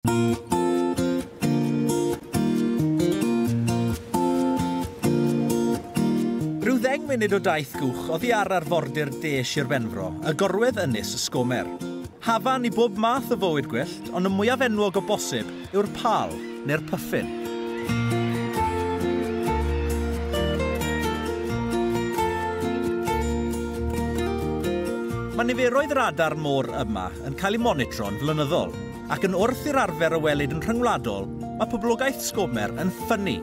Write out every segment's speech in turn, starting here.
Rhyw ddeng munud o daith gwch oddi ar arfordir de Sir Benfro, y gorwedd ynys Sgomer. Hafan i bob math o fywyd gwyllt, ond y mwyaf enwog o bosib yw'r pal, neu'r pyffin. Mae niferoedd yr adar môr yma yn cael eu monitro'n flynyddol. ac yn wrth i'r arfer a welid yn rhyngwladol, mae poblogaeth Sgobmer yn ffynnu.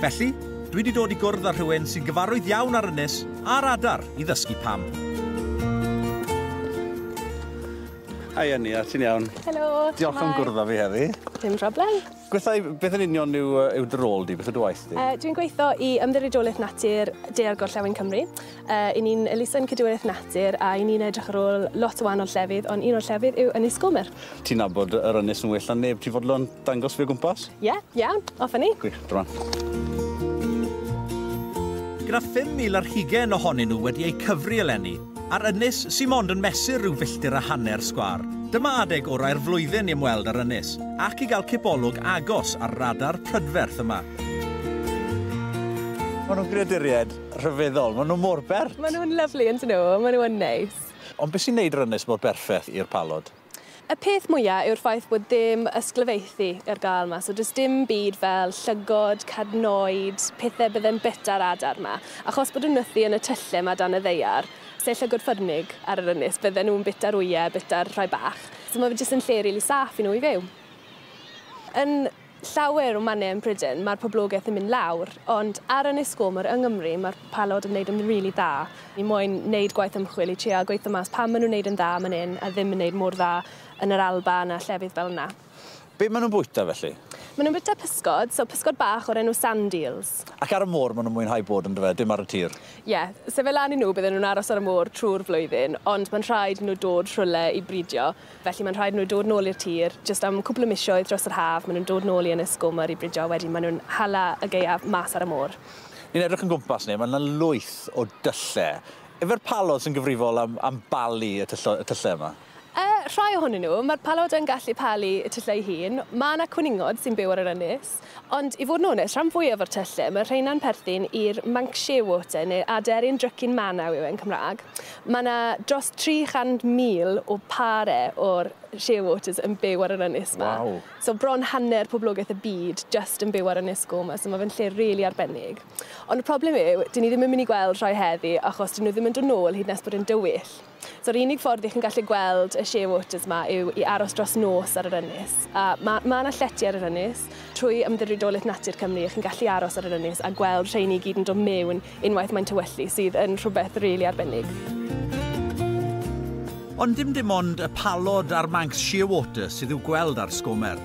Felly, dwi 'di dod i gwrdd â rhywun sy'n gyfarwydd iawn â'r ynys a'r adar i ddysgu pam. Hi Ania, ti'n iawn? Helo! Diolch am gwrdd â fi heddi. Dim problem. Gwethau, beth yn union yw, uh, yw dy rôl di? Beth yw dy waith di? Uh, dwi'n gweithio i Ymddiriedolaeth Natur Dear Gorllewin Cymru. Uh, I ni'n elusen Cydwiraeth Natur a i ni'n edrych ar ôl lot o wahanol llefydd, ond un o'r llefydd yw Ynys Gomer. Ti'n nabod yr ynys yn well na neb, ti'n fodlon dangos fi o gwmpas? Ie, yeah, iawn, yeah, off ni. Gwych, drwan. Gyda 5,000 ar hugen ohonyn nhw wedi eu cyfri eleni, Ar ynys sy mond yn mesur rhyw filltir a hanner sgwâr. Dyma adeg orau'r flwyddyn i ymweld â'r ynys, ac i gael cipolwg agos ar radar prydferth yma. Maen nhw'n greaduriaid rhyfeddol, maen nhw mor bert! Maen nhw'n lyfli yn dyn nhw, maen nhw yn neis. Ond beth sy'n neud yr ynys mor berffeth i'r palod? Y peth mwya yw'r ffaith bod dim ysglyfaethu ar gael yma, so does dim byd fel llygod, cadnoid, pethau bydde'n byta'r adar yma, achos bod nhw'n nythu yn y tyllau yma dan y ddaear, sef llygod ffyrnig ar yr ynys, bydden nhw'n byta'r wyau, byta'r rhai bach, so mae fe jyst yn lle rili saff i nhw i fyw. Yn llawer o mannau yn Pryden mae'r poblogaeth yn mynd lawr, ond ar Ynys Gomor yng Nghymru mae'r palod yn wneud yn rili dda. Ni moyn wneud gwaith ymchwil i trial gweithio mas pam maen nhw'n wneud yn dda man hyn a ddim yn wneud mor dda yn yr Alban a llefydd fel yna. Be maen nhw'n bwyta felly? Maen nhw'n bwyta pysgod, so pysgod bach o'r enw sand eels. Ac ar y môr maen nhw'n mwynhau bod yndyfe, dim ar y tir? Ie, se fe lan i nhw bydden nhw'n aros ar y môr trwy'r flwyddyn, ond mae'n rhaid i nhw dod rhywle i bridio. Felly mae'n rhaid i nhw dod nôl i'r tir jyst am cwpl o misoedd dros yr haf, maen nhw'n dod nôl i Ynys Gomer i bridio a wedyn maen nhw'n hala y gaeaf mas ar y môr. Ni'n edrych yn gwmpas ni, mae 'na lwyth o dylle. Yfe'r palod sy'n gyfrifol am am balu y tyllo- y tyllau yma? Yy, rhai ohonyn nhw. Mae'r palod yn gallu palu y tyllau ei hun. Mae 'na cwningod sy'n byw ar yr ynys. Ond i fod yn onest, rhan fwyaf o'r tyllau, mae'r rheina'n perthyn i'r Manxie Water neu Aderyn Drycin Manaw yw e'n Cymraeg. Mae yna dros 300,000 o pare o'r shearwaters yn byw ar yr ynys 'ma. Waw! So bron hanner poblogaeth y byd jyst yn byw ar Ynys Gô 'ma, so mae fe'n lle rili really arbennig. Ond y problem yw, dyn ni ddim yn mynd i gweld rhai heddi achos dyn nhw ddim yn dod nôl hyd nes bod e'n dywyll. So'r unig ffordd i chi'n gallu gweld y shea waters 'ma yw i aros dros nos ar yr ynys. A ma' ma' 'na llety ar yr ynys. Trwy Ymddiriedolaeth Natur Cymru chi'n gallu aros ar yr ynys a gweld rheiny i gyd yn do' mewn unwaith mae'n tywyllu sydd yn rhwbeth rili arbennig. Ond dim dim ond y palod a'r Manx Shearwater sydd i'w gweld ar Sgomer.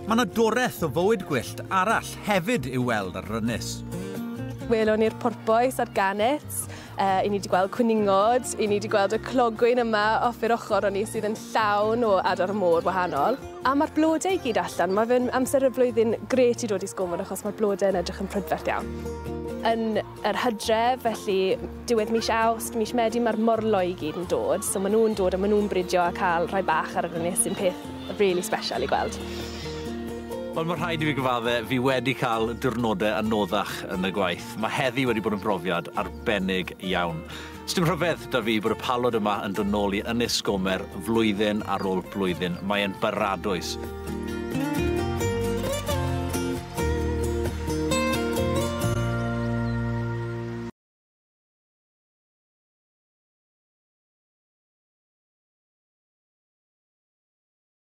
Ma' 'na doreth o fywyd gwyllt arall hefyd i'w weld ar yr ynys. Welwn ni'r porpoise a'r gannets. Uh, I ni wedi gweld cwningod, i ni wedi gweld y clogwyn yma off i'r ochr o'n i sydd yn llawn o adar môr wahanol. A mae'r blodau i gyd allan, mae fe'n amser y flwyddyn gret i dod i sgofod achos mae'r blodau yn edrych yn prydferth iawn. Yn yr hydref, felly diwedd mis awst, mis medi, mae'r morlo i gyd yn dod. So maen nhw'n dod a maen nhw'n bridio a cael rhai bach ar yr ynys sy'n peth really special i gweld. Wel, mae rhaid i fi gyfadde, fi wedi cael diwrnodau anoddach yn y gwaith. Mae heddi wedi bod yn brofiad arbennig iawn. Sdim rhyfedd 'da fi bod y palod yma yn dod nôl i Ynys Sgomer flwyddyn ar ôl blwyddyn. Mae e'n baradwys.